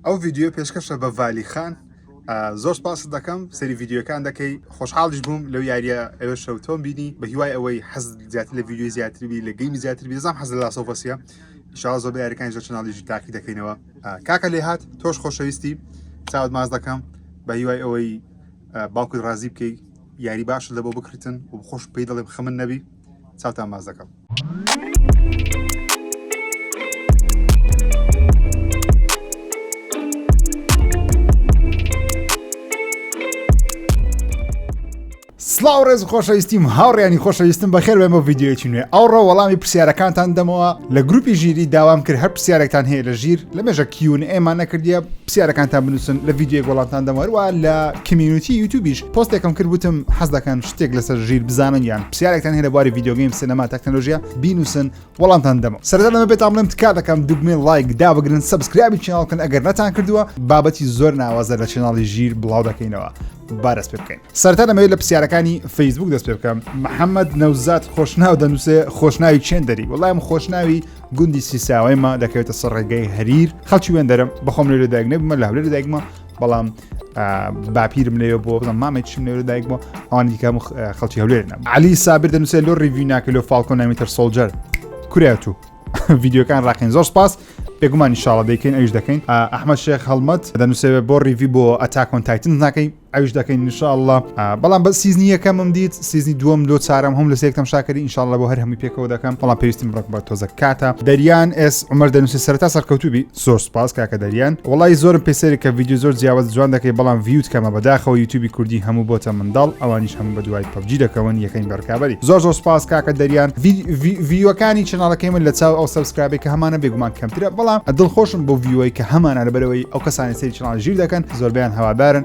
ئەو ڤیدیۆ پێشکەشە بە ڤالی خان زۆر سپاست دەکەم سەری ڤیددیوەکان دەکەی خۆشحاڵیش بووم لەو یاریە ئەوێ شەو تۆم بینی بە هیوای ئەوەی حەز زیاتر لە ڤیددیو زیاتربی لە گەیمی زیاتر بێزام حەز لە سۆفەسیە شاز زۆر یاریەکان زۆر چناڵیژی تاقی دەکەینەوە کاکە لێ هاات تۆش خۆشەویستی چاوت ماز دەکەم بە هیوای ئەوەی باوکت ڕازی بکەیت یاری باش لە بۆ بکردن و خۆش پێی دەڵێم خەمن نەبی چاوتان باز دەکەم. سلااو ڕێز خۆشەویستیم هاوڕێنی خۆشەویستم بەخێر بێن بۆ ڤیددیوەکی نوێ ئەو ڕۆ وەڵامی پرسیارەکانتان دەمەوە لە گروپی ژیری داوام کرد هەر پرسیارێکتان هەیە لە ژیر لە مێژە کیون ئێمان نەکردە پرسیارەکانتان بنووسن لە ڤیددیو گۆڵانتان دەمەوە لە کمیونیتی یوتوبیش پۆستێکم کرد وتم حەز دەکەن شتێک لەسەر ژیر بزانن یان پرسیارێکتان هەیە لە بواری ڤیدیۆگەیم سینەما تەکنەلۆژیا بینوسن وەڵامتان دەمە سەرەتا لەمە بێتام بڵێم تکا دەکەم دوگمەی لایک دابگرن سەبسکرایبی چیناڵ بکەن ئەگەر نەتان کردووە بابەتی زۆر ناوازە لە چیناڵی ژیر بڵاو دەکەینەوە بارەس پێ بکەین سەرتا لەمەوێت لە پرسیارەکانی فەیسبوک دەست پێ بکەم محەممەد نەوزات خۆشناو دەنووسێ خۆشناوی چێن دەری وەڵام خۆشناوی گوندی سیساوەیمە دەکەوێتە سەر ڕێگەی هەریر خەڵکی وێندەرم بەخۆم لێ دایک نەبمە لە هەولێر دایکمە بەڵام باپیرم لێ بۆ بڵم مامە چیم لێ دایک بۆ ئەوان دیکەم خەڵکی هەولێر نەم علی سابر دەنووسێ لۆ ڕیوی ناکە لۆ فالکۆ نامیتر سۆلجەر کورات و ڤیددیوکان ڕاقین زۆر سپاس بێگومانی شاڵە دەکەین ئەوش دەکەین ئەحمە شێخ هەڵمەت دەنووسێ بۆ ڕیوی بۆ ئەتاکۆن تایتن ناکەی ئەوش دەکەین نیشاءله بەڵام بە سیزنی یەکەمم دیت سیزنی دووەم لۆ چارم هەم لە سێکتم شاکری انشاءله بۆ هەر هەمووی پێکەوە دەکەم بەڵام پێویستیم ڕک بە تۆزە کاتە دەریان ئێس عمر دەنووسی سەرتا سەرکەوتوبی زۆر سوپاس کاکە دەریان وەڵایی زۆرم پێ سەیرە کە ڤیدیۆ زۆر جیاواز جوان دەکەی بەڵام ڤیوت کەمە بەداخەوە یوتوبی کوردی هەموو بۆتە منداڵ ئەوانیش هەموو بە دوای پەبجی دەکەون یەکەین بە ڕکابەری زۆر زۆر سوپاس کاکە دەریان ڤیوەکانی چەناڵەکەی من لە چاو ئەو سەبسکرابێک کە هەمانە بێگومان کەمترە بەڵام دڵخۆشم بۆ ڤیوەی کە هەمانە لەبەرەوەی ئەو کەسانی سەیری چەناڵی ژیر دەکەن زۆربەیان هەوادارن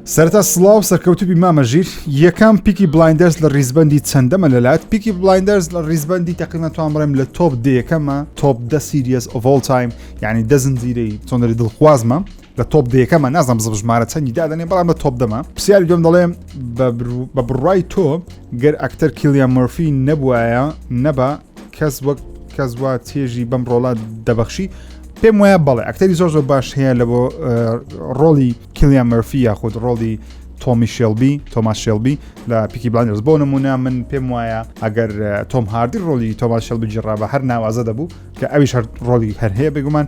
سەرەتا سڵاو سەرکەوتوبی مامە ژیر یەکەم پیکی بلایندەرز لە ریزبەندی چەندەمە لەلات پیکی بلایندەرز لە ریزبەندی تقریبا توان بڵێم لە تۆپ دەیەکەمە تۆپ دە سیریەس ئۆڤۆل تایم یعنی دە زنجیرەی چۆنەری دڵخوازمە لە تۆپ دەیەکەمە نازم بزم ژمارە چەندی دادنێ بەڵام لە تۆپ دەمە پرسیاری دوم دەڵێم بە بڕای تۆ گەر ئەکتەر کیلیان مەرفی نەبوایە نەبا کەس وەک کەس وا چێژی بەم ڕۆڵە دەبەخشی پێم وایە بەڵێ ئەکتەری زۆر زۆر باش هەیە لە بۆ ڕۆڵی کلیان مەرفی یاخود ڕۆڵی تۆمی شێلبی تۆماس شێلبی لە پیکی بلاندرز بۆ نمونە من پێم وایە ئەگەر تۆم هاردی ڕۆلی تۆماس شێلبی جڕا بە هەر ناوازە دەبوو کە ئەویش هەر ڕۆلی هەر هەیە بگومان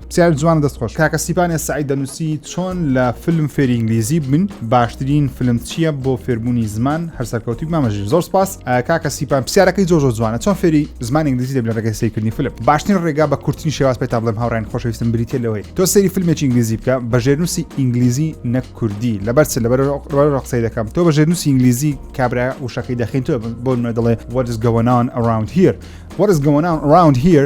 پسیار جوان دەست خۆش کاکە سیپانێ سعی دەنووسی چۆن لە فلم فێری ئینگلیزی بن باشترین فلم چییە بۆ فێربوونی زمان هەر سەرکەوتی مامەژیر زۆر سپاس کاکە سیپان پسیارەکەی زۆر زۆر جوانە چۆن فێری زمان ئینگلیزی دەبێت ڕێگەی سیرکردنی فلم باشترین ڕێگا بە کورتنی شێواز پێ تا بڵێم هاوڕێن خۆشەویستم بریتە لەوەی تۆ سەیری فیلمێکی ئینگلیزی بکە بە ژێرنووسی ئینگلیزی نەک کوردی لەبەر چ لەبەر قسەی دەکەم تۆ بە ژێرنووسی ئینگلیزی کابرا وشەکەی دەخین تۆ بۆ نوێ دەڵێ what is going on around here what is going on around here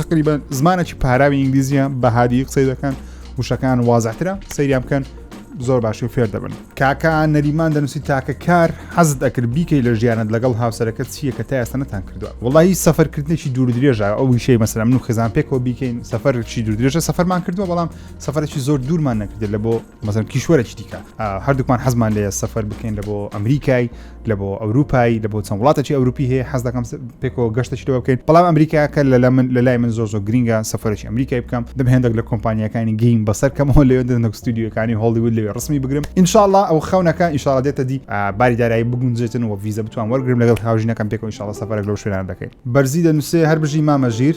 تقریبا زمانێکی پاراوی ئینگلیزیە بە هادی قسەی دەکەن وشەکان وازاترە سەیریا بکەن زۆر باشی و فێر دەبن کاکە نەریمان دەنووسی تاکە کار حەزت ئەکرد بیکەی لە ژیانت لەگەڵ هاوسەرەکە چییە کە تا ئێستا نەتان کردووە وڵی سەفەرکردنێکی دوور درێژە ئەو ویشەی مەسەر من و خزان پێکەوە بیکەین سەفەرشی دوور درێژە سەفەرمان کردووە بەڵام سەفرێکی زۆر دوورمان نەکردێت لە بۆ مەزەن کیشوەرەی دیکە هەردووکمان حەزمان لێ سەفەر بکەین لە بۆ ئەمریکای لە بۆ ئەوروپایی لە بۆ چەند وڵاتەی ئەوروپی هەیە حەز دەکەم پێکەوە گەشتەشتەوە بکەین بەڵام ئەمریکاکە لە من لە لای من زۆر زۆر گرنگە سەفرەی ئەمریکای بکەم دەم هێندێک لە کۆمپانیەکانی گەیم بەسەر کەمەوە لەوێ دەنەک ستودیوەکانی هۆڵیود لەوێ ڕسمی بگرم انشاءله ئەو خەونەکە ئیشاڵ دێتە دی باری دارایی بگونجێتن و ویزە بتوان وەرگرم لەگەڵ هاوژینەکەم پێکەوە ئیشاڵە سەفرەر لەو شوێنان دەکەین بەرزی دەنووسێ هەر بژی مامەژیر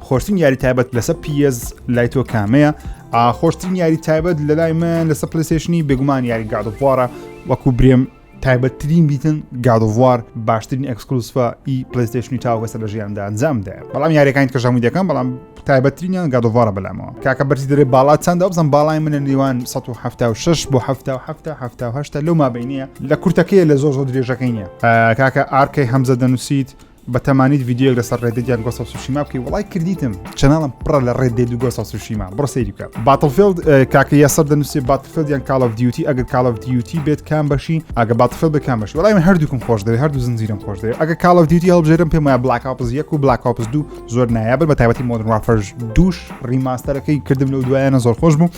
خۆشترین یاری تایبەت لەسە پیز لای تۆ کامەیە خۆشترین یاری تایبەت لە لای من لەسە پلیسشنی بێگومان یاری گادوارە وەکو برێم تایبەتترین بیتن گادوار باشترین ئەکسکلوسفە ئی پلیستشنی تاوەسە لە ژیاندا ئەنجامدا بەڵام یاریەکان کە ژەمو دەکەم بەڵام تایبەتترینیان گادوارە بەلامەوە کاکە بەرزی دەێ باڵا چنددا بزان باڵای منە نێوان 1970 بۆ 1970 لەو مابینە لە کورتەکەی لە زۆر زۆر درێژەکەی نیە کاکە ئارکەی هەمزە دەنووسیت بەتەمانیت ڤیدیۆیەک لەسەر ڕێدێد یان گۆسە سوشیما بکەی وڵای کردیتم چەناڵم پڕە لە ڕێدێد و گۆسە سوشیما بڕ سەیری بکە باتڵفیلد کاکە یاسەر دەنووسێ باتفیلد یان کاڵ دیوتی ئەگەر کاڵ دیوتی بێت کام بەشی ئەگە باتفیلد بە کام بەشی وڵای من هەردووکم خۆش دەوێت هەردوو زنجیرم خۆش دەوێت ئەگە کاڵ دیوتی هەڵبژێرم پێم وایە بلاک ئاپز یەک و بلاک ئاپز دوو زۆر نایابن بە تایبەتی مۆدرن وافەرش دووش ڕیماستەرەکەی کردم لەو دوایانە زۆر خۆش بوو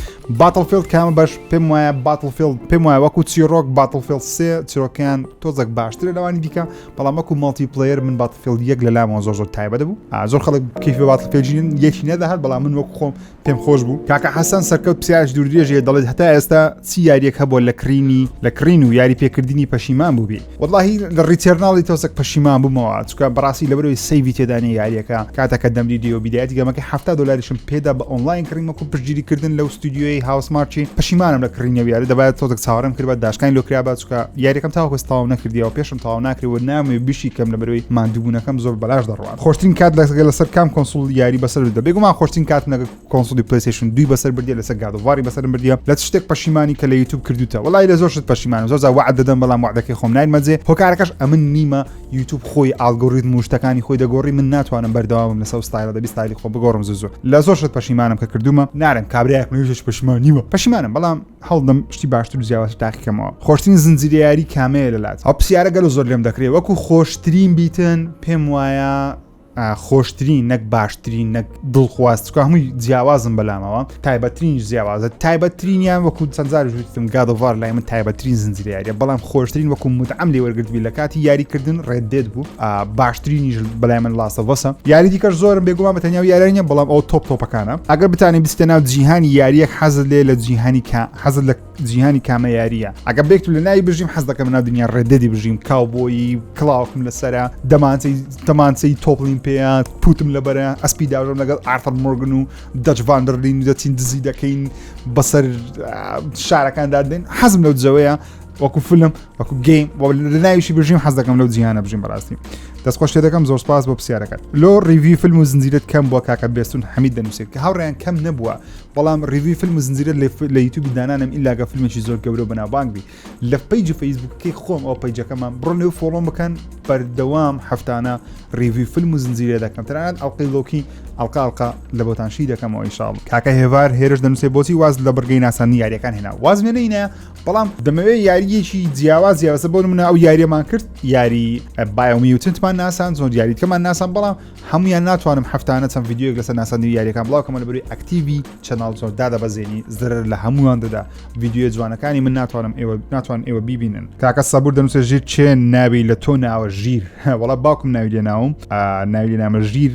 باتڵفیلد کامە بەش پێم وایە باتڵفیلد پێم وایە وەکو چیرۆک باتڵفیلد سێ چیرۆکیان تۆزەک باشترە لەوانی دیکە بەڵام وەکو ماڵتی پلەیەر من باتفیلد یەک لە لامەوە زۆر زۆر تایبەت بوو زۆر خەڵک کیفی باتڵپێجین یەکی نەدەهات بەڵام من وەکو خۆم پێم خۆش بوو کاکە حەسەن سەرکەوت پسیاش دوور درێژێ دەڵێت هەتا ئێستا چی یاریەک هەبووە لە کڕینی لە کڕین و یاری پێکردنی پەشیمان بووبی وەڵی لە ڕیتێرناڵی تۆسەک پەشیمان بوومەوە چکە بەڕاستی لەبەرەوەی سەیوی تێدانی یاریەکە کاتەکە دەمری دیۆ بیدایەتی گەمەکە هەفتا دلاریشم پێدا بە ئۆنلاین کڕیمەکو پشتگیریکردن لەو ستودیۆی هاوسمارچی پەشیمانم لە کڕینەوە یاری دەبات تۆزەک چاوەڕێم کرد بە داشکانی لۆکرا بچکە یاریەکەم تاوەکەستاوم نەکردیەوە پێش تەواو ناکرێ و نامەوێ بشی کەم لەبەرەوەی ماندووبوونەکەم زۆر بەلاش دەڕوات خۆشترین کات لەگە لەسەر کام کۆنسول یاری بەسەر بردە بێگومان خۆشترین کاتم لەگە کۆنسولی پلەیستێشن دووی بەسەر بردیە لەسەر گاد ئۆف واری بەسەرم بردیە لە چ شتێک پەشیمانی کە لە یوتوب کردووتە وەڵای لە زۆر شت پەشیمانم زۆر جار وەعد دەدەم بەڵام وەعدەکەی خۆم نایمە جێ هۆکارەکەش ئەمن نیمە یوتوب خۆی ئاڵگۆریتم و شتەکانی خۆی دەگۆڕی من ناتوانم بەردەوامم لەسەر ئەو ستایلە دەبی ستایلی خۆم بگۆڕم زوو زوو لە زۆر شت پەشیمانم کە کردوومە نارم کابرایەک من هیچ پەشیمان نیمە پەشیمانم بەڵام هەڵدەم شتی باشتر و جیاوازتر تاقیکەمەوە خۆشترین زنجیرە یاری کامەیە لەلات ئەو پرسیارە گەلو زۆر لێم دەکرێت وەکو خۆشترین بیتن پێم وایە خۆشترین نەک باشترین نەک دڵخوازکە هەمووی جیاوازم بەلامەوە تایبەترین جیاوازە تایبەترینیان وەکو چەندزار وتم گادوار لای من تایبەترین زنجیرە یاریە بەڵام خۆشترین وەکو مدعام لێ وەرگرتبی لە کاتی یاریکردن ڕێدێت بوو باشترینیش بەلای من لاستەڤەسە یاری دیکەش زۆرم بێگومان بە تەنیاو یاریە بەڵام ئەو تۆپ تۆپەکانە ئەگەر بتانی بستە ناو جیهانی یاریەک حەزت لێ لە جیهانی حەزت لە جیهانی کامە یاریە ئەگە بێکت لە ناوی بژیم حەز دەکەم ناو دنیا ڕێدەدی بژیم کاو بۆی کلااوکم لەسرە دەمانسی تەمانسی تۆپلین پێیان پوتم لە بەرە ئەسپی داژم لەگەڵ ئارتەر مرگن و دەچڤاندرلین دەچین دزی دەکەین بەسەر شارەکان دادێن حەزم لەو جەوەیە وەکو فلم وەکو گەیم لەناویشی بژیم حەز دەکەم لەو جیانە بژیم بەڕاستی دەستخۆش لێ دەکەم زۆر سپاس بۆ پرسیارەکەت لۆ ڕیوی فیلم و زنجیرت کەم بۆ کاکە بێستون حەمید دەنووسێت کە هاوڕیان کەم نەبووە بەڵام ڕیوی فیلم و زنجیرە لە یوتوبی دانانم ئیلاگە فیلمێکی زۆر گەورە بەناوبانگبی لە پیج و فەیسبوکەکەی خۆم ئەو پیجەکەمان بڕۆ لێو فۆڵۆم بکەن بەردەوام هەفتانە ڕیوی فیلم و زنجیرە دەکەم تەنانەت ئەڵلقی لۆکی ئەڵقاڵقا لە بۆتانشی دەکەمەوە ئیشاڵ کاکە هێوار هێرش دەنووسێ بۆچی واز لە بڕگەی ناسانی یاریەکان هێنا واز وێنەینە بەڵام دەمەوێت یاریەکی جیاواز جیاوازە بۆ منە ئەو یاریەمان کرد یاری بایمیوتنتمان ناسان زۆر یاریتکەمان ناسان بەڵام هەمویان ناتوانم هەفتانە چەند یددیوک لەسەر ناسانی یاریەکان بڵاوکەمە لە بری ئەکتیوی چەناڵ زۆر دادە بەزێنی زرر لە هەمووان دەدا یددیو جوانەکانی من ناتوانم ئێوە ناتوان ئێوە ببینن کاکە سەبور دەنووسە ژیر چێن ناوی لە تۆ ناوە ژیر وڵا باوکم ناوی لێ ناوم ناوی نامە ژیر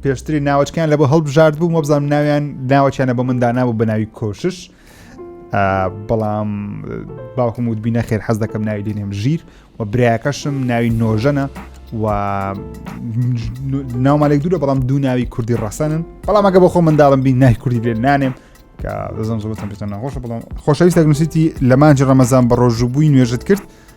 پێشتری ناوچکیان لە بۆ هەڵبژارد بوو مەبزانام ناویان ناوەچیانە بە مندانا بوو بە ناوی کۆشش بەڵام باوکم وت بینە خێر حەز دەکەم ناوی دێنێم ژیر و برایەکەشم ناوی نۆژەنە و ناومالێک دوورە بەڵام دوو ناوی کوردی ڕەسەنن بەڵام ئەگە بۆ خۆ منداڵم بین نای کوردی لێ نانێم کە دەزم زۆتم پێ ناخۆشە بەڵام خۆشەویست دەگنووسیتی لە مانجی ڕەمەزان بە ڕۆژوبووی نوێژت کرد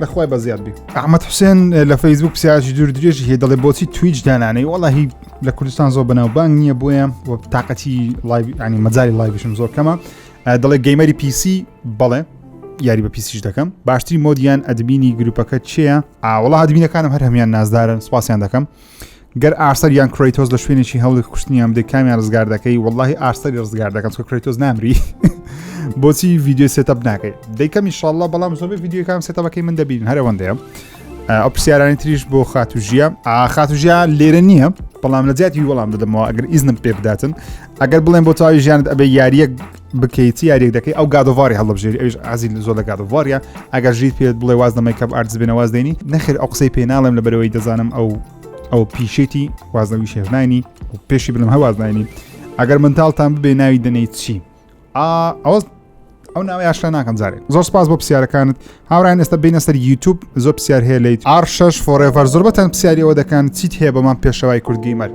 لەخوای بەزیاد بی ئەحمد حوسێن لە فەیسبوک پسیاجی دوور درێژی هەیە دەڵێ بۆچی تویچ دانانەی وەڵی لە کوردستان زۆر بەناوبانگ نییە بۆیە و تااقەتی لایانی مەجای لایبشم زۆر کەمە دەڵێ گەیمەری پیسی بەڵێ یاری بە پیسیش دەکەم باشتری مۆدیان ئەدبینی گروپەکە چیە ئاوڵا دبینەکانم هەر هەمان نازدارن سپاسیان دەکەم گەر ئارسەر یان کرۆیتۆز لە شوێنێکی هەوڵێک کوشتنیان بدەی کامیان ڕزگار دەکەی واللهی ئارسەری ڕزگار دەکەم چکە کرۆیتۆز نامری بۆچی ویددیو سێتەپ ناکەی دەیکەمی شڵە بەڵام زۆر ویددیوکان سێتەبەکەی من دەبین هەرەوەندەیە ئەو پرسیارانی تریش بۆ خاتو ژیە خاتو ژیا لێرە نییە بەڵام لە جیاتی وەڵام دەدەمەوە ئەگەر ئیزنم پێ بداتن ئەگەر بڵێن بۆ تاوی ژیانت ئەبێ یاریەک بکەیت یاریێک دەکەی ئەو گادۆواری هەڵبژێری ئەوش ئازیل زۆر لە گادۆوارە ئەگەر ژیت پێت بڵێ واز دەمەی کەم ئارزبێنە واز دێنی نەخێر ئەو قسەی پێ ناڵێم لە بەرەوەی دەزانم ئەو ئەو پیشێتی وازنەوی شێژنانی و پێشی بلم هەوازنانی ئەگەر منتاڵتان ببێ ناوی دەنەی چی ئەو ئەو ناوی ئاشتا ناکەم زارێ زۆر سپاس بۆ پرسیارەکانت هاوران ئێستا بینە سەر یوتوب زۆر پرسیار هەیە لیت ئارشش فۆڕێڤەر زۆر بەتەن پرسیاریەوە دەکەن چیت هەیە بەمان پێشەوای کوردگەیمەر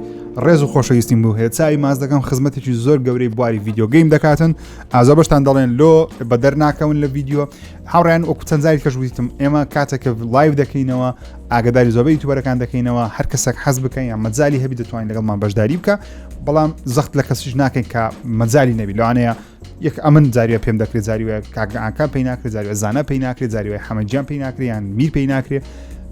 ڕێز و خۆشەویستیم بوو هەیە چاوی ماز دەکەم خزمەتێکی زۆر گەورەی بواری یددیوگەیم دەکاتن ئازا بەشتان دەڵێن لۆ بەدەر ناکەون لە یددیو هاوڕیان وەکو چەند زاری کەش ویتم ئێمە کاتێک کە لایو دەکەینەوە ئاگداری زۆبەی توبەرەکان دەکەینەوە هەر کەسێک حەز بکەین یا مەجای هەبی دەتوانین لەگەڵمان بەشداری بکە بەڵام زەخت لە کەسیش ناکەین کە مەجای نەبی لەوانەیە یەک ئەمن جاریە پێم دەکرێت جاریوە کاگەعاکە پێی ناکرێت جاریوە زانە پێی ناکرێت جاریوەی حەمەجیان پێی ناکریان میر پێی ناکرێت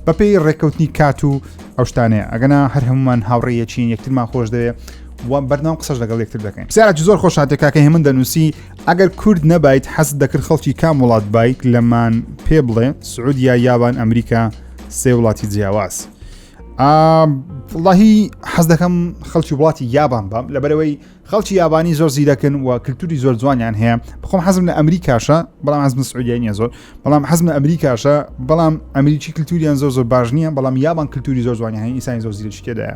بەپی ڕێککەوتنی کات و ئەو شتانەیە ئەگەنا هەر هەمومان هاوڕێیەچین یەکترمان خۆش دەوێت بەردەوام قسەش لەگەڵ یەکتر دەکەین سیاج زۆر خۆشاتێکاکە هێمن دەنووسی ئەگەر کورد نەبایت حەست دەکرد خەڵکی کام وڵات بایت لەمان پێ بڵێ سعودیا یابان ئەمریکا سێ وڵاتی جیاواز وڵی حەز دەکەم خەڵکی وڵاتی یابان بام لەبەرەوەی خەڵکی یابانی زۆر زیرەکن و کللتوری زۆر جوانیان هەیە بخۆم حەزم لە ئەمریکاشە بەڵام حەزم سعودیانە زۆر بەڵام حەزمە ئەمریکاشە بەڵام ئەمریکی کللتوریان زۆر زۆر باش نییە بەڵام یابان کللتوری زۆر زوانی هەین ئیسانی زۆر زیرەشکێدایە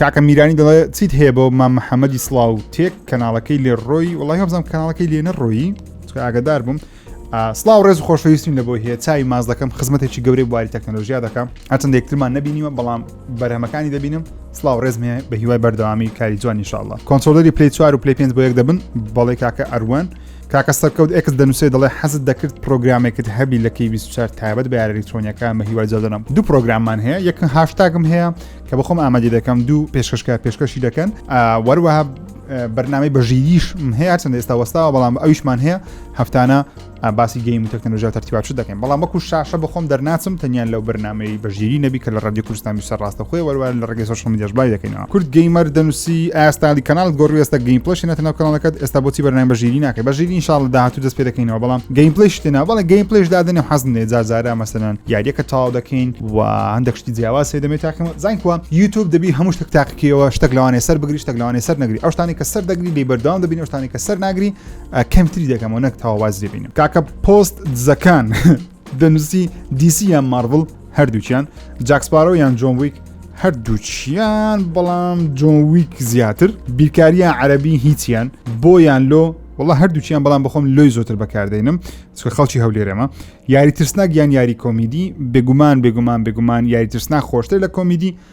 کاکە میرانی دەڵێ چیت هەیە بۆ مام محەممەدی سلااو تێک کەناڵەکەی لێ ڕۆی وڵی هەبزانام کەناڵەکەی لێ نەڕۆیی ئاگدار بووم سلااو ڕێز و خۆشەویستین لە بۆ هەیە چای ماز دەکەم خزمەتێکی گەورەی بواری تەکنەلۆژیا دەکەم هەچەند یەکترمان نبینیوە بەڵام بەرهەمەکانی دەبینم سلااو ڕێزمێ بە هیوای بەردەوامی کاری جوانی شاءله کۆنسۆلری پلی چوار و پلی پێ بۆ یەک دەبن بەڵێ کاکە ئەروان کاکە سەرکەوت ئێکس دەنووسێ دەڵێ حەزت دەکرد پرۆگرامێکت هەبی لە کەی 24 تایبەت بە یارە ئەلکترۆنیەکان بە هیوای جادەنم دوو پرۆگراممان هەیە یەک هاشتاگم هەیە کە بەخۆم ئامادی دەکەم دوو پێشکەشکە پێشکەشی دەکەن وەروەها بەرنامەی بەژیریش هەیە چەند ئێستا وەستاوە بەڵام ئەویشمان هەیە هەفتانە باسی گەیم و تەکنەلۆژیا تەرتیباچ دەکەین بەڵام وەکو شاشە بەخۆم دەرناچم تەنیان لەو بەرنمەی بەژیری نەبی کە لە ڕادی کوردستان سەر ڕاستەخۆی وەروان لە ڕگەی سۆشمیدیش بای دەکەینەوە کورد گەیمەر دەنووسی ئاستالی کەناڵت گۆڕی ئێستا گەیم پلشی نەتە ناو کەناڵەکەت ئێستا بۆچی بەرنامە بەژیری ناکە بەژیری انشاءالله داهاتوو دەست پێ دەکەینەوە بەڵام گەیم پلش تێنا بەڵێ گەیم پلش دادنێ حەزم لێ زارزارە مەسەلەن یاریەکە تاو دەکەین و هەندێک شتی جیاواز سێ دەمێت تاکەمە زانین کووە یوتوب دەبی هەموو شتێک تاقیکەوە شتێک لەوانێ سەر بگری شتێک لەوانێ سەر نەگری ئەو شتانی کە سەر دەگری لێ بەردەوام دەبین ئەو شتانی کە سەر ناگری کەمتری دەکەمەوە نەک تاوازی دەبینم کاکە پۆست دزەکان دەمزی دیسی یان مارڤڵ هەردووکیان جاکسپارۆ یان جۆن ویک هەردووچیان بەڵام جۆویک زیاتر بیرکاریە عەربی هیچیان بۆیان لۆ وڵە هەردووچیان بەڵام بخۆم لۆی زۆتر بەکاردێنم چکە خەڵکی هەولێرەمە یاری ترسناک یان یاری کۆمیدی بێگومان بێگومان بێگومان یاری ترسناک خۆشتر لە کۆمیدی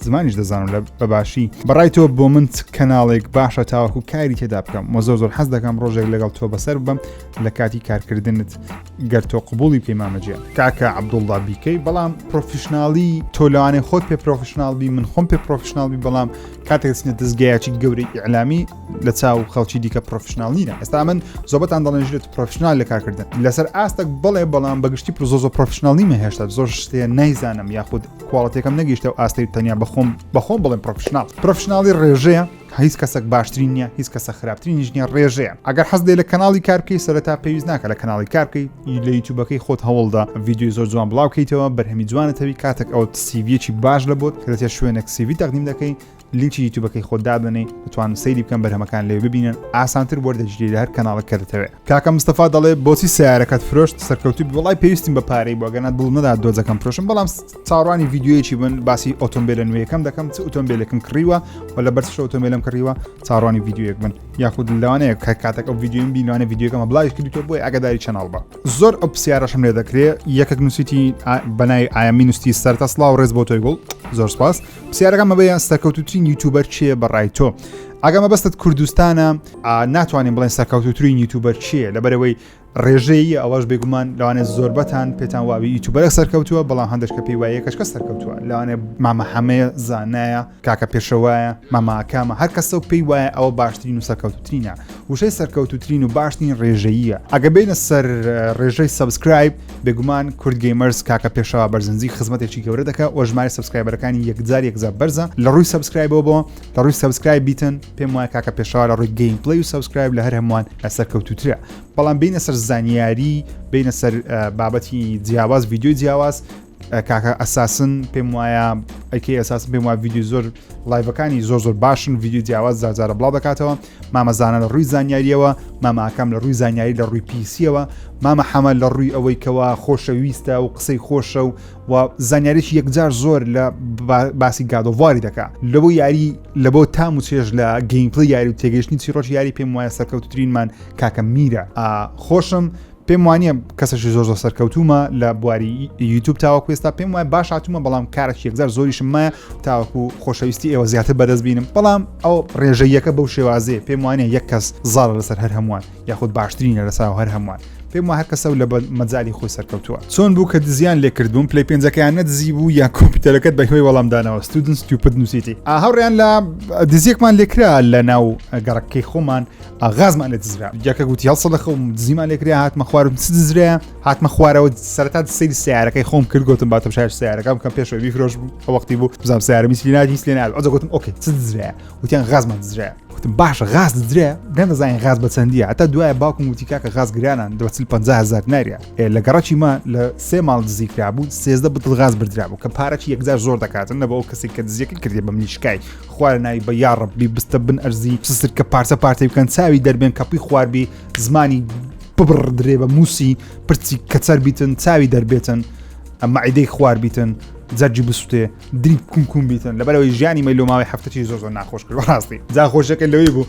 زمانیش دەزانم لە بەباشی بەڕای تۆ بۆ من چ کەناڵێک باشە تاوەکو کاری تێدا بکەم مە زۆر زۆر حەز دەکەم ڕۆژێک لەگەڵ تۆ بەسەر بم لە کاتی کارکردنت گەر تۆ قبولی پەیمامەجێ کاکە عبدوڵدا بیکەی بەڵام پرۆفیشنناڵی تۆ لەوانێ خۆت پێ پرۆفیشنناڵ بی من خۆم پێ پرۆفیشنناڵ بی بەڵام کاتێکسنە دەستگایکی گەورەی ئیعلامی لە چاو خەڵکی دیکە پرۆفیشنناڵ نیرە ئێستا من زۆبەتان دەڵێنژێت پرۆفیشنناال لە کارکردن لەسەر ئاستەک بڵێ بەڵام بەگشتی پرۆزۆ پرۆفیشنناڵی مە هێشتا زۆر شتێ نایزانم یاخود کواڵتیەکەم نەگەیشتە و ئاستەی تەنیا بەخۆم بەخۆم بڵێن پرۆفشنناڵ پرۆفشنناڵی ڕێژەیە هیچ کەسێک باشترین نیە هیچ کەسە خراپترین نیژنیە ڕێژەیە ئەگەر حەز دێ لە کەناڵی کارکەی سەرتا پێویست ناکە لە کەناڵی کارکەی لە یوتوبەکەی خۆت هەوڵدا ڤیددیو زۆر جوان بڵاوکەیتەوە بەرهەمی جوانەتەوی کاتێک ئەو سیڤەکی باش لە بۆت کەێت شوێنێک سیوی تەقدیم دەکەی لینکی یوتوبەکەی خۆت دابنەی بتوانن سەیری بکەن بەرهەمەکان لێ ببینن ئاسانتر وەردەگیری لە هەر کەناڵک کە دەتەوێت کاکە مستەفا دەڵێ بۆچی سیارەکەت فرۆشت سەرکەوتوی بڵای پێویستیم بە پارەی بۆ گەنە دڵ نەدا دۆزەکەم فرۆشم بەڵام چاڕوانی یددیوەیەکی بن باسی ئۆتۆمبیلە نوێیەکەم دەکەم چ ئۆتۆمبیلەکەم کڕیوە و لە بەرش ئۆتۆمبیلم کڕیوە چاڕوانی یددیوەک بن یاخود لەوانەیە کە کاتەکە ئەو یددیوم بینوانە یددیوەکەمە بڵاوی کردیتۆ بۆی ئەگەداری چەناڵ بە زۆر ئەو پرسیارەشم لێ دەکرێ یەکەک نووسیتی بەنای ئایا مینوستی سەرتەسڵاو ڕێز بۆ تۆی گوڵ زۆر سپاس پرسیارەکە مەبەیان سەرکەوتوترین یوتوبەر چێ بەڕای تۆ ئەگە مەبەستت کوردستانە ناتوانین بڵێن سەرکەوتوترین یوتوبەر چیە لەبەرەوەی ڕێژەیە ئەوەش بێگومان لەوانێت زۆربەتان پێتان واوی یوتوبەرە سەرکەوتووە بەڵام هەندێک کە پێی وایە کەشکە سەرکەوتووە لەوانێ مامە حەمەیە زانایە کاکە پێشەوایە ماماکامە هەر کەسە و پێی وایە ئەوە باشترین و سەرکەوتترینە وشەی سەرکەوتترین و باشترین ڕێژەیە ئەگە بینە سەر ڕێژەی سبسکرایب بێگومان کورد گەیمەرز کاکە پێشەوا بەرزنجی خزمەتێکی گەورە دەکە و ژمارە سبسکرایبەرەکانی یەکجار یەکجار بەرزە لە ڕووی سبسکرایبەوە بۆ لە ڕووی سبسکرایب بیتن پێم وایە کاکە پێشەوا لە ڕووی گەیم پلی و سبسکرایب لە هەر هەمووان لەسەر کەوتوترە بەڵام بینە سەر زانیاری بینە سەر بابەتی جیاواز ویددیوی جیاواز کاکە ئەساسن پێم وایە ئەکی ئەساس پێم وایە ویددیو زۆر ڵایڤەکانی زۆر زۆر باشن ویددیو جیاواز زارجارە بڵاو دەکاتەوە مامەزانە لە ڕووی زانیاریەوە ماماکەم لە ڕووی زانیاری لە ڕووی پیسیەوە مامە حەمە لە ڕووی ئەوەی کەەوە خۆشەویستە و قسەی خۆشە و و زانیاریی یەکجار زۆر لە باسی گادۆڤاری دەکا لەبوو یاری لە بۆ تام و چێژ لە گەیمپلی یاری و تێگەشتنی چیڕۆژ یاری پێم وایە سەکەوتترینمان کاکە میرە خۆشم پێم وانە کەسەشی زۆر زۆر سەرکەوتومە لە بواری یوتوب تاوەکو ئێستا پێم وای باش هاتومە بەڵام کارێک یەکزار زۆریشم مایە تاوەکو خۆشەویستی ئێوە زیاتر بەدەست بینم بەڵام ئەو ڕێژەیەکە بەو شێوازێ پێم وانە یەک کەس زار لەسەر هەر هەمووان یاخود باشترینە لەساو هەر هەمووان پێم وە هەرکەسە و لە مەجای خۆی سەرکەوتووە چۆن بوو کە دزیان لێکردبووم پلی پێنجەکەیان نەدزی بوو یا کۆمپیوتەرەکەت بە هۆی وەڵامدانەوە ستودنس توپت نووسیتی ئاهاڕیان لە دزیێکمان لێکرا لە ناو گەڕەکەی خۆمان ئاغازمان لێ دزرا جاکە گوتی هەڵسە لە خەوم دزیمان لێکرا هاتمە خوارم چ دزرا هاتمە خوارەوە سەرتا سەیری سیارەکەی خۆم کرد گوتم باتم شار سیارەکەم کەم پێشەوە بیفرۆش بوو وەختی بوو بزانام سیارە میسلی نادی سلێن ئەجە گوتم ئۆکەی چ دزرا وتیان غازمان دزرا وتم باشە غاز درێ نەدەزانین غاز بە چەندیە هەتا دوایە باوکم وتی کاکە غاز گرانان دەچل 500هزار ناریە لە گەڕەکی ما لە سێ ماڵ دزیکرابوو سێزدە بتڵ غاز بردرابوو کە پارەکی یەکجار زۆر دەکاتن نەبەوە کەسێک کە دزیەکە کردی بە منیشکای خوایە ناوی بە یاڕبی بستە بن ئەرزی سسر کە پارچە پارتی بکەن چاوی دەربێن کەپی خواربی زمانی ببڕ درێ بە موسی پرچی کەچەر بیتن چاوی دەربێتن ئەمە عیدەی خوار بیتن جەرجی بسوتێ دری کوم کوم بیتن لەبەرەوەی ژیانی مە لۆماوی هەفتەی زۆ زۆر ناخۆش کرد ڕاستی جا خۆشەکە لەوەی بوو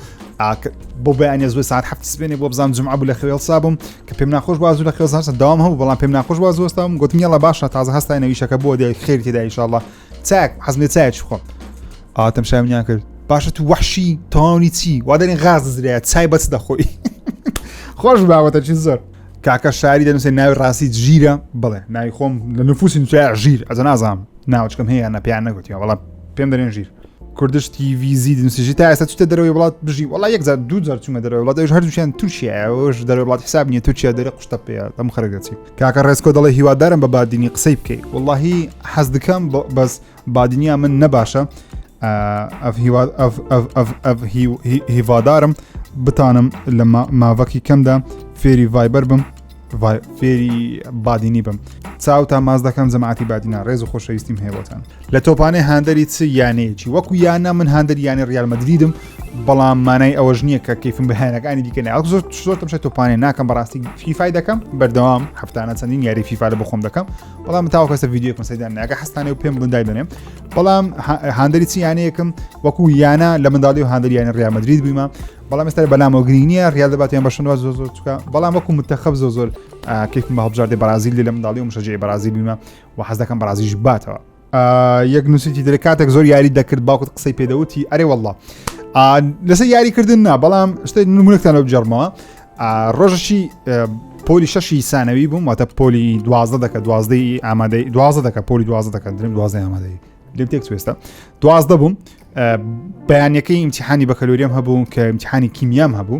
بۆ بەیان زۆر ساعت هەفت سبێنێ بۆ بزان جمع بوو لە خوێڵ سابم کە پێم ناخۆش بازوو لە خوێزانسە داوام هەبوو بەڵام پێم ناخۆش بازوەستام گوتنیڵە باشە تازە هەستای نەویشەکە بۆ دێ خێری تێدایشله چاک حەزمێ چایەکی خۆم ئاتەم شاوینیان کرد باشە تو وحشی تەواونی چی وا دەێن غاز دەزرێ چای بەچ دەخۆی خۆش باوەتە چی زۆر کاکە شاری دەنووسێ ناوی ڕاستی ژیرە بڵێ ناوی خۆم لە نفوسی نووسیا ژیر ئەز نازام ناوچکەم هەیە نە پێیان نەگوتیەوە بەڵام پێم دەێن ژیر کوردش تیڤزی دنوسیژی تا ئێستا چتە دەرەوەی وڵات بژی وڵا یەک زار دوو جار چوومە دەرەوە وڵات ئەوش هەردووشیان تورکیا ئەوش دەرەوە وڵات حساب نیە تورکیا دەرە قشتە پێ ئەم خەرگەچی کاکە ڕێسکۆ دەڵێ هیوادارم بە بادینی قسەی بکەیت واللهی حەز دکەم بەس بادینیا من نەباشە هیوادارم بتانم لە ماڤکی کەمدا فێری ڤایبەر بم فێری بادینی بم چاو تا ماز دەکەم جەماعتی بادینا ڕێز و خۆشەویستیم هەیەوەتان لە تۆپانێ هاندەری چ یانەیەکی وەکو یانە من هاندەر یانە ریالمەدریدم بەڵام مانای ئەوەش نییە کە کەیفم بەهانەکانی دیکە ناوە زۆر زۆر تەمشە تۆپانێ ناکەم بەڕاستی فیفای دەکەم بەردەوام هەفتانە چەندین یاری فیفا لە بخۆم دەکەم بەڵام تاو کەسە یددیو مسەدان ناگە حستانێ و پێم بڵندای بنێم بەڵام هاندری چی یانەیەکم وەکو یانە لە منداڵی و هاندریانە ڕامەدرید بوویمە بەڵام ئێستا بەلامەوە گرینیە ڕیال دەباتیان بەشنەوە زۆ زۆر چکە بەڵام وەکو متەخەب زۆ زۆر کەیفم بە هەبژاردی بەرازیل لە منداڵی و مشەجێ بەرازی بوویمە و حەزەکەم بەرازیش باتەوە یەک نووسیتی درێ کاتێک زۆر یاری دەکرد باوکت قسەی پێدەوتی ئەرێ والله لەسەر یاریکردن نا بەڵام شتە نمونەکتان لەو جەرمەوە ڕۆژەشی پۆلی شەشی سانەوی بووم واتە پۆلی دوازدە دەکە دوازدەی ئامادەی دوازدە دەکە پۆلی دوازدە دەکە درم دوازدە ئامادەی لێم تێک توێستە دوازدە بووم بەیانەکەی ئیمتحانی بەکەلوریەم هەبوو کە ئیمتحانی کیمیام هەبوو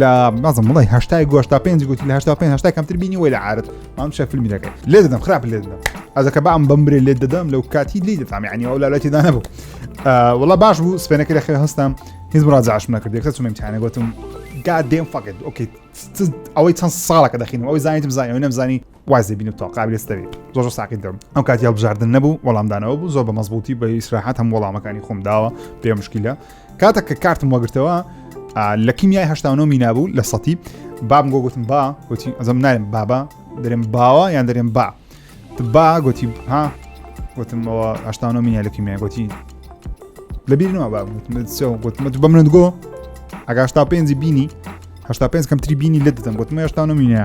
لە نازم بڵی هشتای گۆشتا پێنج گوتی لە هشتا پێ هشتا کەمتر بینی وی لە عرت ئەم شە فیلمی دەکەی لێ دەدەم خراپ لێ دەدەم ئەزەکە بام بمرێ لێ دەدەم لەو کاتی لی دەتام عنی ئەو لالەتی دا نەبوو وڵا باش بوو سپێنەکە لە خێ هەستم هیچ ڕاجعش نەکرد کە چمیم تیانە گوتم گا دێم فقت ئۆکیت ئەوەی چەند ساڵەکە دەخینم ئەوەی زانیتم زانانی نەمزانی وازی بینو تۆ قابلستەوی زۆر زۆر ساقی دەم ئەو کاتی هەڵبژاردن نەبوو وەڵامدانەوە بوو زۆر بە مەزبوطی بە ئیسراحات هەم وەڵامەکانی خۆم داوە پێ مشکیلە کاتە کە کارتم وەگرتەوە لە کیمیای هشتانەوە مینابوو لە سەتی بام گۆ گوتم با گوتی ئەزم نارم بابا دەرێم باوە یان دەرێم با با گوتی ها گوتمەوە هشتانەوە مینای لە کیمیای گوتی لەبیرنەوە با گوتمە بە منت گۆ ئەگاشتا پێنجی بینی هشتا پێنج کەمتری بینی لە دەم گوتمە هشتانە مینە